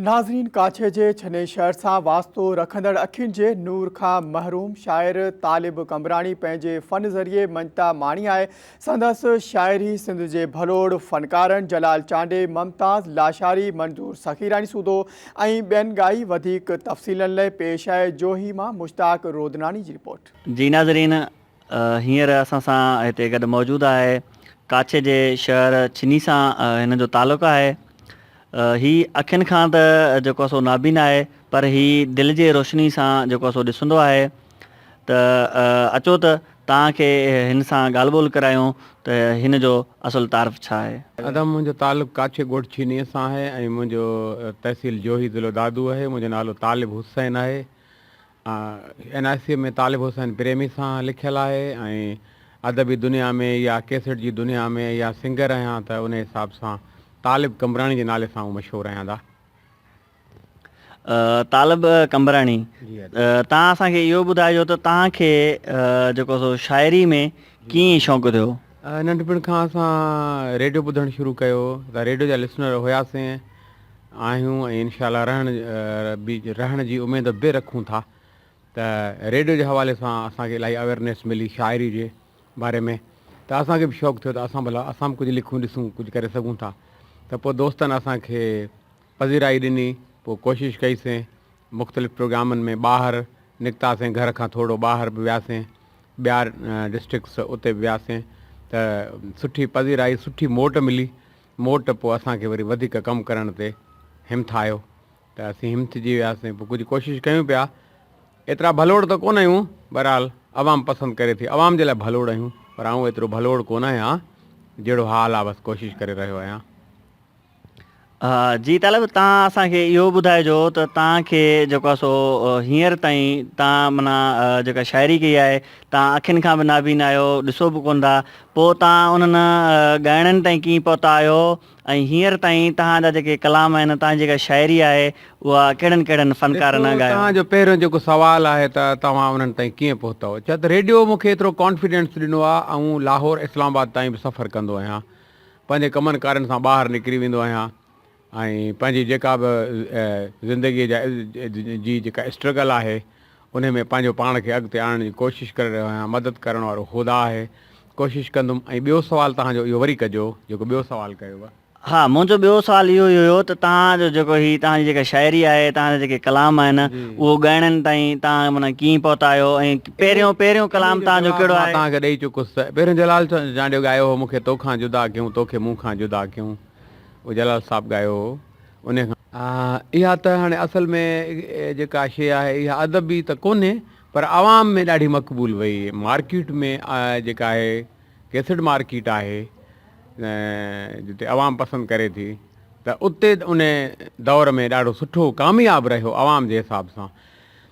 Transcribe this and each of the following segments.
ناظرين ڪاڇي جي ڇني شهر سان واسطو رکندڙ اکين جي نور کان محروم شاعر طالب قمبراڻي پنهنجي فن ذريعي مڃتا ماڻي آهي سندس شاعري سنڌ جي ڀلوڙ فنڪارن جلال چانڊي ممتاز لاشاري منظور سخي راڻي سودو ۽ ٻين ڳائي وڌيڪ تفصيلن لئي پيش آهي جوهي مان مشتاق رودناڻي جي رپورٽ. جي ناظرين هينئر اسان سان هتي گڏ موجود آهي ڪاڇي جي شهر ڇني سان هن جو تعلق آهي. هي اکين کان ته جيڪو سو نابين آهي پر هي دل جي روشني سان جيڪو سو ڏسندو آهي ته اچو ته توهان کي هن سان ڳالهه ٻولهه ڪرايون ته هن جو اصل تعارف ڇا آهي. ادا منهنجو تعلق ڪاڇي ڳوٺ ڇني سان آهي ۽ منهنجو تحصيل جوهي ضلعو دادو آهي منهنجو نالو طالب حسين آهي اين آء سي ۾ طالب حسين پريمي سان لکيل آهي ۽ ادبي دنيا ۾ يا ڪيسٽ جي دنيا ۾ يا سنگر رهيان ته ان حساب سان طالب قمبراڻي جي نالي سان هو مشهور رهندا. طالب قمبراڻي تان اسان کي اهو ٻڌائجو ته تان کي جيڪو سو شاعري ۾ ڪيئن شوق ٿيو؟ ننڍپڻ کان اسان ريڊيو ٻڌڻ شروع ڪيو ته ريڊيو جا لسنر هياسين. آهيون ۽ انشاء الله رهڻ به رهڻ جي اميد به رکون ٿا ته ريڊيو جي حوالي سان اسان کي الاهي اويرنيس ملي شاعري جي باري ۾ ته اسان کي به شوق ٿيو ته اسان ڀلا اسان به ڪجهه لکون ڏسون ڪجهه ڪري سگهون ٿا ته پوء دوستن اسان کي پذيرائي ڏني پوء ڪوشش ڪئي سين مختلف پروگرامن ۾ ٻاهر نڪتا سين گهر کان ٿورڙو ٻاهر به ويا سين ٻيا ڊسٽرڪس اتي به ويا سين ته سٺي پذيرائي سٺي موٽ ملي مون وٽ پوء اسان کي وري وڌيڪ ڪم ڪرڻ تي همٿايو ته اسين همٿجي وياسين پوء ڪجهه ڪوشش ڪيون پيا ايترا ڀلوڙ ته ڪونه آهيون بهرحال عوام پسند ڪري ٿي عوام جي لاء ڀلوڙ آهيون پر آئون ايترو ڀلوڙ ڪونه آهيان جهڙو حال آهي بس ڪوشش ڪري رهيو آهيان. جي طالب تان اسان کي اهو ٻڌائجو ته تان کي جيڪو آهي سو هينئر تائين تان منا جيڪا شاعري ڪئي آهي تان اکين کان به نابين آهيو ڏسو به ڪونه ٿا پوء توهان انهن ڳائڻن تائين ڪيئن پهتا آهيو ۽ هينئر تائين توهان جا جيڪي ڪلام آهن، توهان جي جيڪا شاعري آهي، اها ڪهڙن ڪهڙن فنڪارن ڳايو؟ توهان جو پهريون جيڪو سوال آهي ته توهان انهن تائين ڪيئن پهتؤ؟ ڇا ته ريڊيو مون کي ايترو ڪانفيڊنس ڏنو آهي، آئون لاهور، اسلام آباد تائين به سفر ڪندو آهيان، پنهنجي ڪمن ڪارين سان ٻاهر نڪري ويندو آهيان، ۽ پنهنجي جيڪا به زندگيء جا جي جيڪا اسٽرگل آهي انهي ۾ پنهنجو پاڻ کي اڳتي آڻڻ جي ڪوشش ڪري رهيو آهيان مدد ڪرڻ وارو خدا آهي ڪوشش ڪندم ۽ ٻيو سوال توهان جو اهو وري ڪجو جيڪو ٻيو سوال ڪيو هو. ها منهنجو ٻيو سوال اهو ئي هيو ته توهان جو جيڪو هي توهان جي جيڪا شاعري آهي توهان جا جيڪي ڪلام آهن اهو ڳائڻين تائين توهان معنيٰ ڪيئن پهتا آهيو ۽ پهريون پهريون ڪلام توهان جو ڪهڙو آهي؟ مان توهان کي ڏئي چڪس ته پهريون جلال چانڊيو ڳايو هو مون کي تو کان جدا ڪيون تو کي مون کان جدا ڪيون او جلال صاحب ڳايو هو انهيء کان. اها ته هاڻي اصل ۾ جيڪا شيء آهي اها ادبي ته ڪونهي پر عوام ۾ ڏاڍي مقبول وئي مارڪيٽ ۾ جيڪا آهي ڪيسٽ مارڪيٽ آهي جتي عوام پسند ڪري ٿي ته اتي انهيء دور ۾ ڏاڍو سٺو ڪامياب رهيو عوام جي حساب سان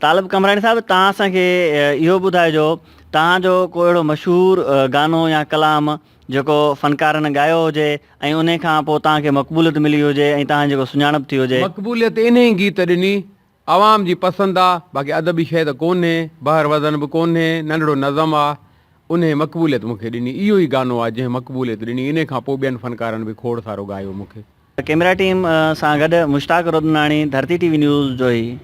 طالب قمبراڻي صاحب توهان اسان کي اهو ٻڌائجو توهان جو ڪو اهڙو مشهور گانو يا ڪلام جيڪو فنڪارن ڳايو هجي ۽ انهي کان پوء توهان کي مقبوليت ملي هجي ۽ توهان جيڪو سڃاڻپ ٿي هجي. مقبوليت انهي گيت ڏني، عوام جي پسند آ، باقي ادبي شيء ته ڪونهي، بحر وزن به ڪونهي، ننڍڙو نظم آ، انهي مقبوليت مون کي ڏني، اهو ئي گانو آ جنهن مقبوليت ڏني، انهي کان پوء ٻين فنڪارن به کوڙ سارو ڳايو مون کي. ڪيمرا ٽيم سان گڏ مشتاق رودناڻي ڌرتي ٽي وي نيوز جوهي.